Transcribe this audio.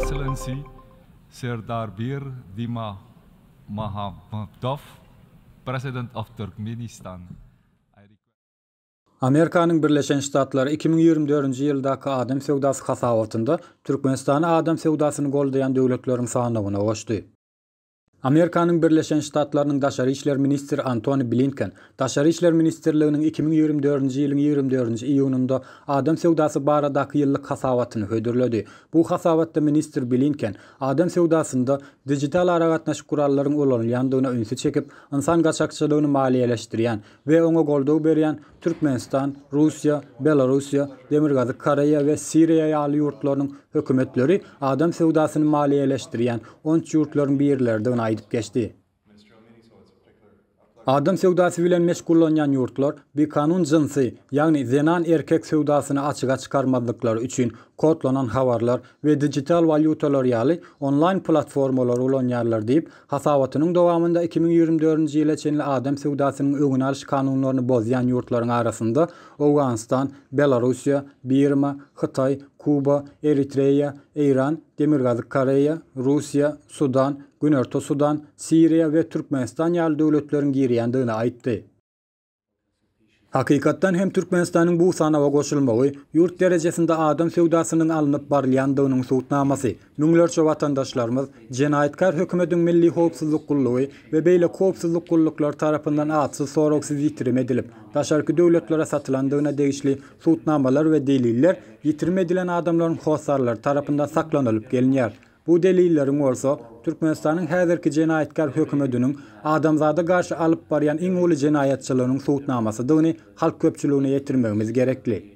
Excellency Serdar Bir Dima Mahamadov, President of Turkmenistan. Amerikanyň Birleşen Ştatlary iki müň ýigrimi dördünji ýyldaky adam söwdasy hasabatynda Türkmenistany adam söwdasyny goldaýan döwletleriň sanawyna goşdy. Amerikanyň Birleşen Ştatlarynyň Daşary işler ministri Antoni Blinken Daşary işler ministrliginiň iki müň ýigrimi dördünji ýylyň ýigrimi dördünji iýunynda adam söwdasy baradaky ýyllyk hasabatyny hödürledi. Bu hasabatda ministr Blinken adam söwdasynda dijital aragatnaşyk gurallaryň ulanylýandygyna ünsi çekip, ynsan gaçakçylygyny maliýeleşdirýän, we oňa goldaw berýän Türkmenistan, Russiýa, Belarussiýa, Demirgazyk Koreýa we Siriýa ýaly ýurtlarynyň hökümetleri adam söwdasyny maliýeleşdirýän onç ýurtlaryň birleridigini aýdyp geçdi. Adam söwdasy bilen meşgullanýan ýurtlar bikanun jynsy, ýagny zenan-erkek söwdasyny açyga çykarmazlyklary üçin kodlanan habarlar we digital walýutalar ýaly onlaýn platformalary ulanýarlar diýip, Hasabatynyň dowamynda iki müň ýigrimi dördünji ýyla çenli adam söwdasynyň öňüni alyş kanunlaryny bozýan ýurtlaryň arasynda Owganystan, Belarussiýa, Birma, Hytaý, Kuba, Eritreýa, Eýran, Demirgazyk Koreýa, Russiýa, Sudan, Günorta Sudan, Siriýa we Türkmenistan ýaly döwletleriň girýändigini aýtdy. Hakykatdan hem Türkmenistanyň bu sanawa goşulmagy ýurt derejesinde adam söwdasynyň alnyp barylýandygynyň subutnamasy. Müňlerçe watandaşlarymyz jenaýatkär hökümediň Milli howpsuzlyk gullugy we beýleki howpsuzlyk gulluklary tarapyndan atsyz-soragsyz ýitirim edilip, daşarky döwletlere satylandygyna degişli subutnamalar we deliller ýitirim edilen adamlaryň hossarlary tarapyndan saklanylyp gelinýär. Bu delilleriň bolsa, Türkmenistanyň häzirki jenaýatkär hökümediniň adamzada garşy alyp barýan iň uly jenaýatçylygynyň subutnamasydygyny halk köpçüligine ýetirmegimiz gerekli.